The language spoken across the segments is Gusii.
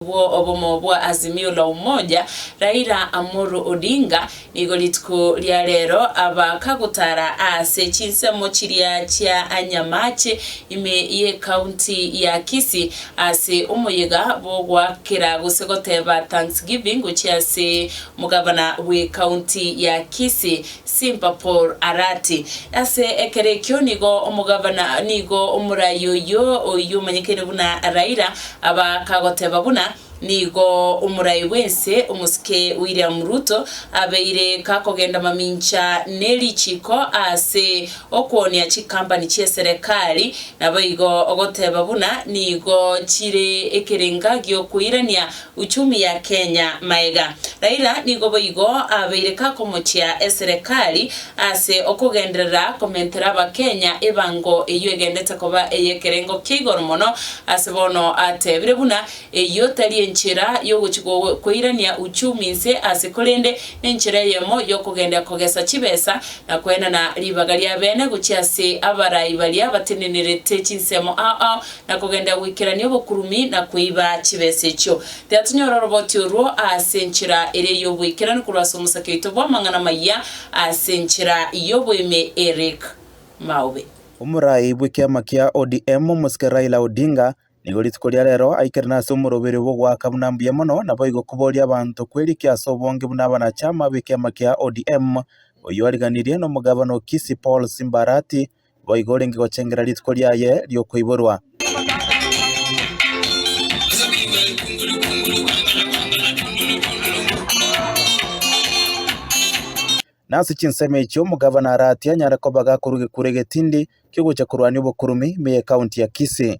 bwo obomo bwa Azimio la Umoja, Raila Amolo Odinga, nigo rituko ria rero abakagotara aase chinsemo chiria chia Anyamache ime y'ecounty ya Kisii aase omoyega bw'ogoakera gose goteba Thanksgiving gochia ase Omogavana bw'ecounty ya Kisii Simpapor arati, Ase ekero ekio nigo omogabana, nigo omorai oyio, oyio omanyekene buna Raila, aba akagoteba buna nigo omorai bw'ense, omosike William Ruto, abeire kakogenda mamincha ne richiko ase okwonia chikampani chi'eserekari, naboigo ogoteba buna nigo chire ekerenga gi'okoirania Uchumi ya Kenya maega. Raila nigo boigo abeire kakomochia eserekari ase okogenderera komentera abakenya ebango eyio egendete koba eyekerengo kia igoro mono ase bono atebire buna eyio tari enchera yogochia koirania uchumi nse ase korende nenchera eyemo yokogendia kogesa chibesa na koenana ribaga riabene gochia ase abarai baria batenenerete chinsemo ao na kogenderera goikerania obokurumi na kweiba chibesa echio. Tiga tonyore oroboti orwo ase enchera ere y'oboikeranu korwa ase omosake oito bw'amang'ana amayia ase enchera y'oboime Eric Maobe. Omorai bw'ekiama kia ODM omosike Raila Odinga nigo rituko ria rero aikerene ase omoroberi bw'ogoaka buna mbuya mono naboigo koboria abanto kwerikia ase obonge buna abanachama b'ekiama kia ODM oyio ariganirie nomogabana o Kisii Paul Simbarati boigo orenge gochengera rituko riaye ri'okoiborwa. Nase chinsemo echi omogavana Arati anyare koba gakorwa egekwere egetindi ki'ogocha korwania obokurumi ime y'ekaunti ya Kisii.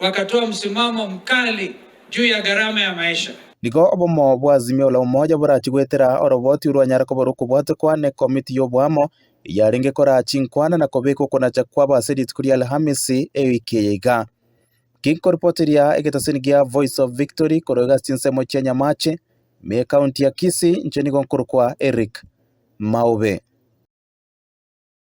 wakatoa msimamo mkali juu ya gharama ya maisha. Nigo obomo bwa Azimio la Umoja borachie goetera oroboti orwanyare koba rokobwatekwa n'Ekomiti y'Oboamo eyarenge koraa chinkwana na kobeka okonacha kwabo ase rituko ria Alhamisi ewiki eye iga. Ginkoripoteria egeteseni gia Voice of Victory korwa igase chinsemo chia Nyamache, ime ekaunti ya Kisii, inche nigo nkorokwa Eric Maube.